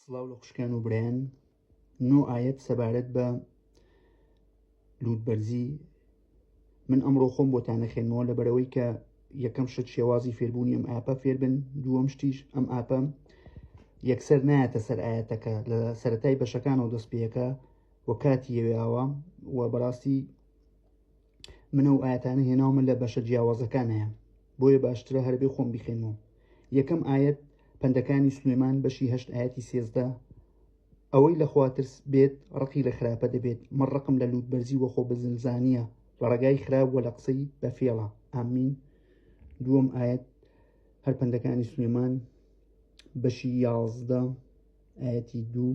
سڵاو لە خوشکان و برایان نۆ ئاەت سەبارەت بە لووتبەرزی من ئەمڕۆ خۆم بۆتانە خێنەوە لە بەرەوەی کە یەکەم شت شێوازی فێربوونی ئەم ئاپە فێربن دووەم شتیش ئەم ئاپە یەکسەر نایەتە سەر ئاەتەکە لە سەتای بەشەکانەوە دەست پێەکە و کاتی یەوێاوە و بەڕاستی من ئەو ئاەتانە هێناومە لە بەشە جیاوازەکانەیە بۆیە باشترە هەربێ خۆم بیخێنەوە یەکەم ئاەت پندەکانی سلێمان بەشی هەشت ئاەتی سێزدە ئەوەی لە خواترس بێت ڕقی لە خراپە دەبێت من ڕقم لە لووت بەرزی وەخۆ بزنزانە لە ڕێگای خراپ وە لە قسەی بە فێڵە ئامین دووەم ئاەت هەر پندەکانی سلێمان بەشی یازدە ئاەتی دوو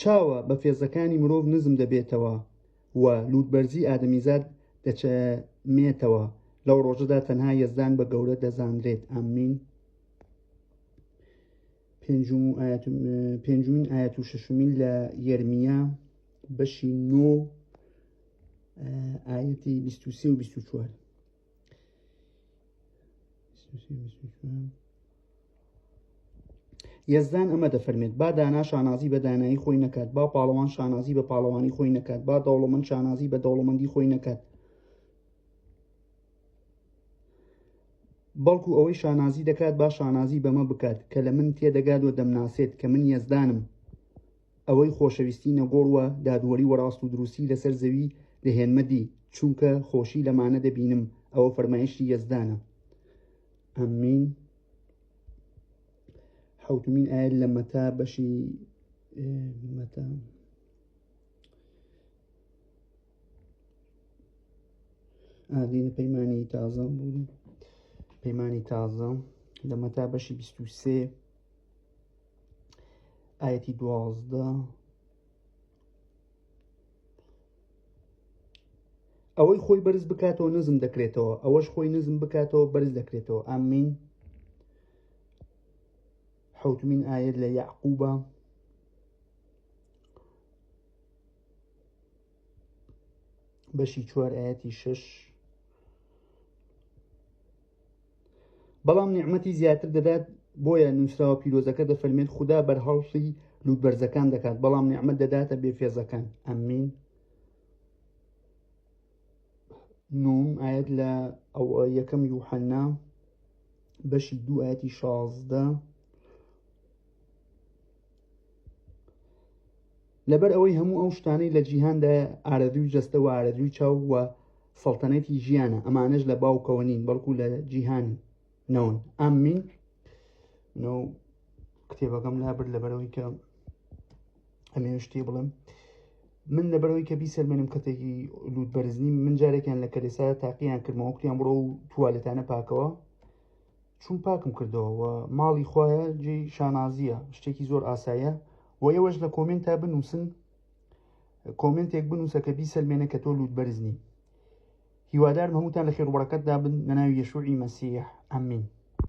چاوە بەفێزەکانی مرۆڤ نزم دەبێتەوە و لووتبەرزی ئادەمیزاد دەچەمێتەوە لەو ڕۆژەدا تەنها یەزدان بە گەورە دەزانرێت ئامین پێنجمین ئاەت و شەشمین لە یەرمیا بەشی نۆ ئاەتی 23 و 24 یەزدان ئەمە دەفەرمێت با دانا شانازی بە دانایی خۆی نەکات با پاڵەوان شانازی بە پاڵەوانی خۆی نەکات با دەوڵەمەند شانازی بە دەوڵەمەندی خۆی نەکات بەڵکو ئەوەی شانازی دەکات با شانازی بەمە بکات کە لە من تێدەگات و دەمناسێت کە من یەزدانم ئەوەی خۆشەویستی نەگۆڕ و دادوەری وەڕاست و دروستی لەسەر زەوی دەهێنمە دی، چونکە خۆشی لەمانە دەبینم، ئەوە فەرمایشتی یەزدانە. امین. حەوتمین ئایەت لە مەتا بەشی مەتا. ئادینە پەیمانی تازە بوون پەیمانی تازە لە مەتا بەشی 23 ئاەتی دوازدە ئەوەی خۆی بەرز بکاتەوە نزم دەکرێتەوە ئەوەش خۆی نزم بکاتەوە بەرز دەکرێتەوە ئامین حوتمین ئاەت لە یعقوبە بەشی چوار ئاەتی شش بەڵام نیعمەتی زیاتر دەدات بۆیە نووسراوە پیرۆزەکە دەفەرمێت خوددا بەرهەڵستی لووتبەرزەکان دەکات بەڵام نیعممە دەداتە بێفێزەکان ئەمین نوم ئاەت لە ئەو یەکەم یوحەننا بەشی دوو ئاەتی شازدە لەبەر ئەوەی هەموو ئەو شتانەی لە جیهاندایە ئارەزوی جەستە و ئارەزوی چاو و سەڵتەنەتی ژیانە ئەمانەش لە باوکەوە نین بەڵکو لە جیهان نەون ئامین کتێبەکەم لابرد لەبەرەوەی کە ئەمێ شتێ بڵم من لەبەرەوەی کە بیسەلمێنم کەتێکی لووت بەرزنی من جارێکیان لە کەلێسا تاقییان کردمەوە کتیان بڕۆ و توالێتانە پاکەوە چون پاکم کردەوە و ماڵی خوایە جێی شانازیە شتێکی زۆر ئاسایە و ئێوەش لە کۆمنت تا بنووسن کۆمنتێک بنووسە کە بیسەلمێنە کە تۆ لووت بەرزنی هیوادارم هەمووتان لە خێروبڕەکەتدا بن لە ناوی یەشوعی مەسیح ئەمین